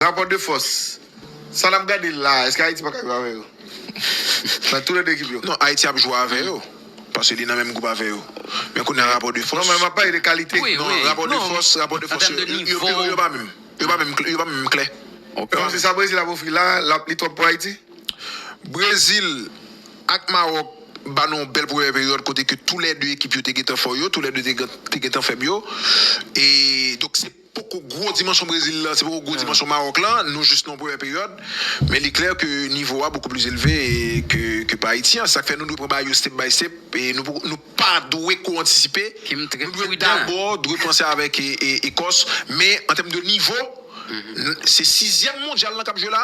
Rapò de fòs, sa nap gade la, eske Ayiti paka jwe avè yo? Nan tou le 2 ekip yo. Non, Ayiti ap jwe avè yo, paske li nan menm gwoup avè yo. Men kounye a rapò de fòs. Non, men map pale de kalite. Non, rapò de fòs, rapò de fòs yo, yo pa menm. Yo pa menm, yo pa menm kle. Donk se sa Brezil ap ofri la, lap li twòp pou Ayiti? Brezil ak Mawòk ba nou yon bèl premyè peryòd kote ke tou le 2 ekip yo te gentan fò yo, tou le 2 te gentan fèb yo. E donk se. Poko gwo dimansyon Brezil la, se poko gwo dimansyon Mawòk la, nou jis nan premyè peryòd, men li klè ke nivo a bokou plis elve ke pa Ayiti an, sak fè nou dwe pran bagay yo step by step, nou pa dwe ko antisipe, nou dwe dabò dwe panse avèk Ekòs, men an tèm de nivo, se sizyèm mondyal lan kap jwe la.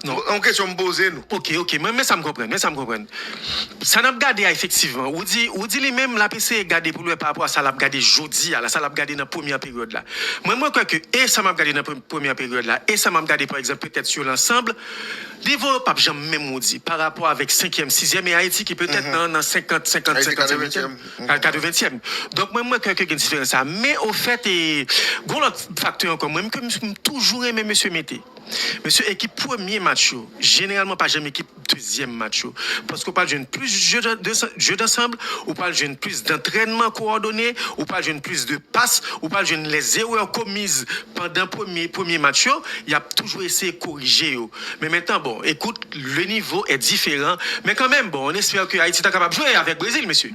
Non, yon kesyon m poze nou. Ok, ok, men sa m konprann, men sa m konprann. Sa n ap gade a efektivman, ou di, ou di li menm l ap eseye gade pou l wè parapò a sa l ap gade jodi a la, sa l ap gade nan premyè peryòd la. Mwen, mwen kwè ke e sa m ap gade nan premyè peryòd la, e sa m ap gade pa egzanp petèt sou lansanb, nivo yo p ap janm menm ou di, parapò avèk senkyèm, sizyèm e Ayiti ki petèt nan, nan senkant, senkant, senkant, senkantyèm, al katreventyèm. Donk mwen, mwen kwè ke gen diferans sa a. Men ofèt e, gen yon lòt faktè ankò mwen, ke m toujou renmen mesye mete. Mesye ekip premye match yo jeneralman pa janm ekip dezyèm match yo paske ou pral jwenn plis jeu d'ensemble, ou pral jwenn plis dantrènman kowòdone, ou pral jwenn plis de pas, ou pral jwenn lè zerè komiz pandan premye premye match yo yap toujou eseye korije yo men mentan bon ekout le nivo è diferan men kanmenm bon on espère ke Ayiti ta kapab jwe avèk Brezil mesye.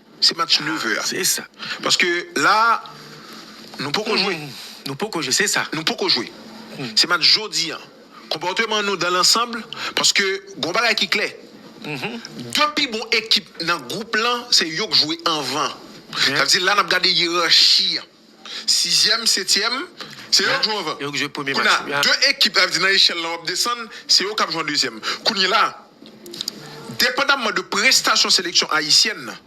Se match 9 heures a. Se sa. Paske la a, nou poko jwe. Nou poko jwe, se sa. Nou poko jwe. Se match jodi an. Konpòteman nou dan lansanb, paske gen yon bagay ki klè. 2 pi bon ekip nan gwoup lan, se yo k jwe anvan. Sa vle di la n ap gade yerachi an. Sizyèm, setyèm, se yo k jwe anvan. Kounye a, 2 ekip sa vle di nan echèl lan w ap desann, se yo k ap jwe an dezyèm. Kounye la, depandamman de prestasyon seleksyon ayisyèn nan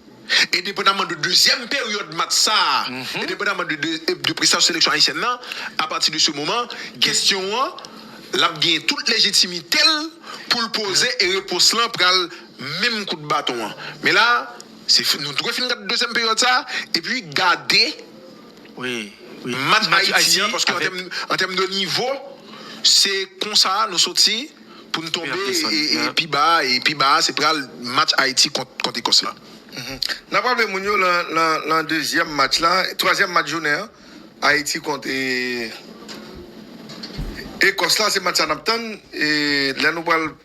e depandamman de dezyèm peryòd match sa a e depandamman de prestasyon seleksyon ayisyèn nan, apati de se moman, kesyon an l ap gen tout lejitimite l pou l poze e repons lan pral menm kout baton an. Men la. Se fi nou dwe fin gad dezyèm peryòd sa a epi gade match Ayiti an paske an tèm de nivo se konsa a nou soti pou n tonbe pi ba a e pi ba a se pral match Ayiti kont Ekòs la. N ap raple moun yo lan dezyèm match la, twazyèm match jounen an Ayiti kont Ekòs la se match sa a n ap tann lè nou pral.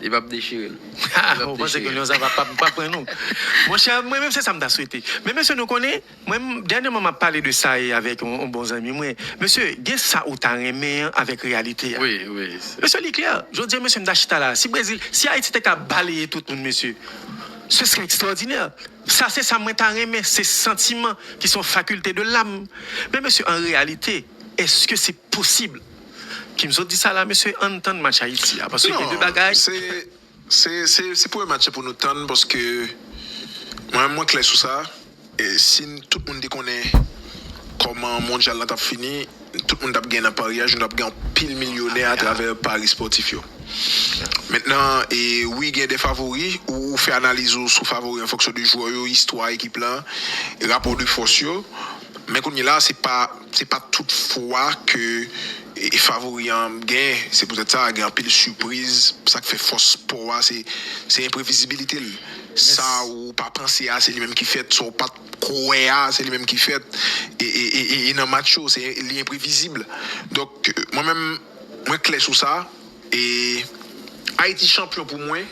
Li pap dechire l. Haa ou panse ke lyon sa va pap pran nou monchè mwen menm se sa m ta swete men mesye nou konnen mwen dènyèman map pale de sa e avèk yon bon zanmi mwen mesye gen sa ou ta renmen an avèk reyalite a mesye li klè jodi an mesye m ta chita la si brezil si ayiti te ka baleye tout moun mesye se sere ekstwòdinè sa se sa mwen ta renmen se santiman ki son fakilte de lam men mesye an reyalite eske se posib. Kim sot di sa la mesye ann tann match Haiti a paske gen de bagay. Non se se premye match pou nou tann paske mwen menm mwen klè sou sa si tout moun te konnen kòman mondyal la tap fini tout moun tap gen nan paryaj nou tap gen anpil milyonè atravè pari spòtif yo mentnan wi gen de favori ou fè analiz ou sou favori an fonksyon de jwè yo istwa ekip la rapò de fòs yo men kounyela se pa. Se pa tout fwa ke favori an gen, se poutèt sa gen anpil sipriz, sa k fè fòs spò a se se enprevizibilite l, sa ou pa panse a se li menm ki fèt, sa ou pat kwè a se li menm ki fèt e nan match yo se li enprevizib donk mwen menm mwen klè sou sa e Ayiti chanpyon pou mwen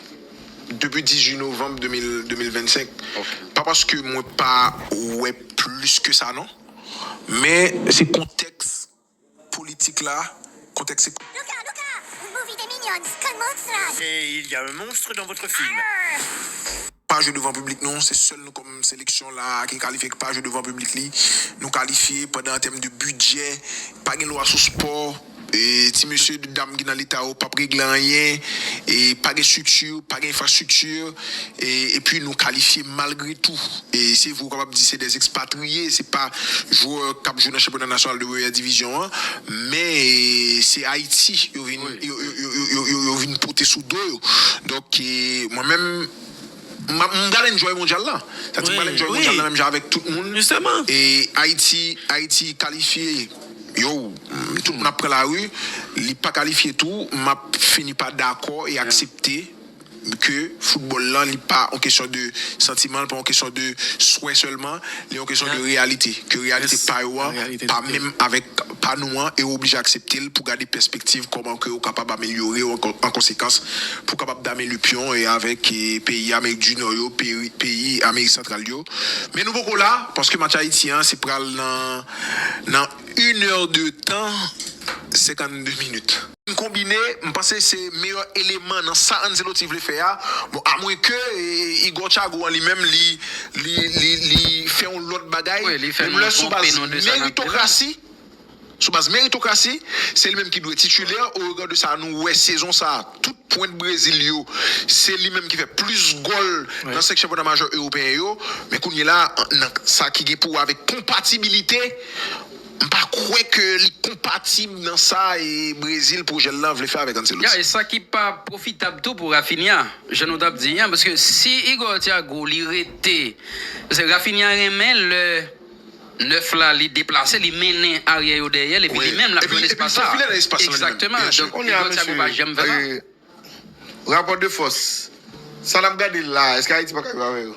depi 18 novanm 2025 pa paske mwen pa wè plis ke sa non. Men se kontèks politik la, kontèks ekonomik. Luca, Luca! Une movie des Minions con monstras! Et il y a un monstre dans votre film? Arr! Pa jwe devan piblik nou, se sèl nou kòm seleksyon la a ki kalifye ki pa jwe devan piblik li. Nou kalifye pandan an tèm de bidjè, pa gen lwa sou spò. Ti mesye dam ki nan leta yo pap regle anyen, pa gen strikti, pa gen enfrastrikti, epi nou kalifye malgre tou. Se vre ou kapab di se 2 ekspatriye, se pa jwè kap jwe nan chanpyona nasyonal 2 premyè divizyon an, men se Ayiti yo vin pote sou do yo. Donk mwen menm. M pral enjoy mondyal la. Sa di m pral enjoy mondyal la menm jan avèk tout moun. E Ayiti, Ayiti kalifye, yow, tout moun ap pran lari. Li pa kalifye tou, m ap fini pa dakò e aksepte ke foutbòl lan li pa yon kesyon de santiman, li pa yon kesyon de swè sèlman. Li yon kesyon de reyalite, ke reyalite pa yo an pa menm avèk pa nou an e yo oblije aksepte l pou gade pèspektiv kòman ke yo kapab amelyore yo an konsekans pou kapab dame lupyon e avèk peyi Amerik di Nò yo, peyi Amerik Santral yo. Men nou poko la, paske match Ayiti an se pral nan nan une heure de temps 52 minutes. M konbine, m panse se meyè eleman nan sa Ancelotti vle fè a, bon a mwen ke Igor Thiago an li menm li li fè yon lòt bagay, menm lè sou baz meritokrasi, sou baz meritokrasi se li menm ki dwe titilè o rega de sa nou wè sezon sa tout pwent Brezil yo se li menm ki fè plis gòl nan 5 chanpyona majò ewopeyen yo, men kounyela nan sa ki gen pou wè avèk konpatibilite. M pa kwè ke li konpatib nan sa Brezil pwojè l lan vle fè avèk Ancelotti. Ya, e sa ki pa pwofitab tou pou Raphinha, jan nou t ap di an, paske si Igor Thiago li rete, paske Raphinha renmen lè 9 la li deplase, li mennen aryè yo dèyè l epi li menm l ap jwenn espas sa. Epi l fofile nan espas lan li menm. Egzakteman, donk Igor Thiago pa janm fè sa. Rapò de fòs, sa n ap gade la a, èske Ayiti pa ka jwe avè yo?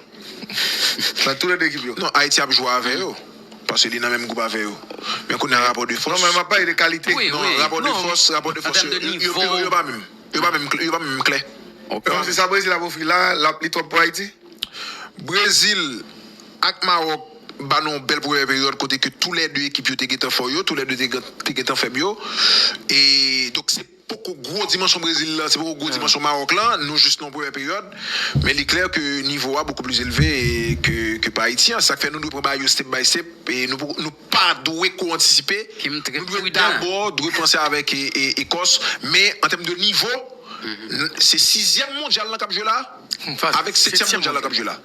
Nan tou le 2 ekip yo. Non, Ayiti ap jwe avè yo, paske li nan menm gwoup avè yo. Men kounye a rapò de fòs. Non, men m ap pale de kalite. Non, rapò de fòs, rapò de fòs yo, yo pi wo, yo pa menm. Yo pa menm, yo pa menm kle. Donk se sa Brezil ap ofri la a, li twòp pou Ayiti? Brezil ak Mawòk ba nou yon bèl premyè peryòd kote ke tou le 2 ekip yo te gentan fò yo, tou le 2 te gentan fèb yo. E, donk se. Poko gwo dimansyon Brezil la, se poko gwo dimansyon Mawòk la, nou jis nan premyè peryòd, men li klè ke nivo a bokou pli zelve ke pa Ayiti an, sak fè nou dwe pran bagay yo step by step, nou pa dwe ko antisipe, nou dwe dabò dwe panse avèk Ekòs, men an tèm de nivo, se sizyèm mondyal lan kap jwe la, avèk setyèm mondyal lan kap jwe la.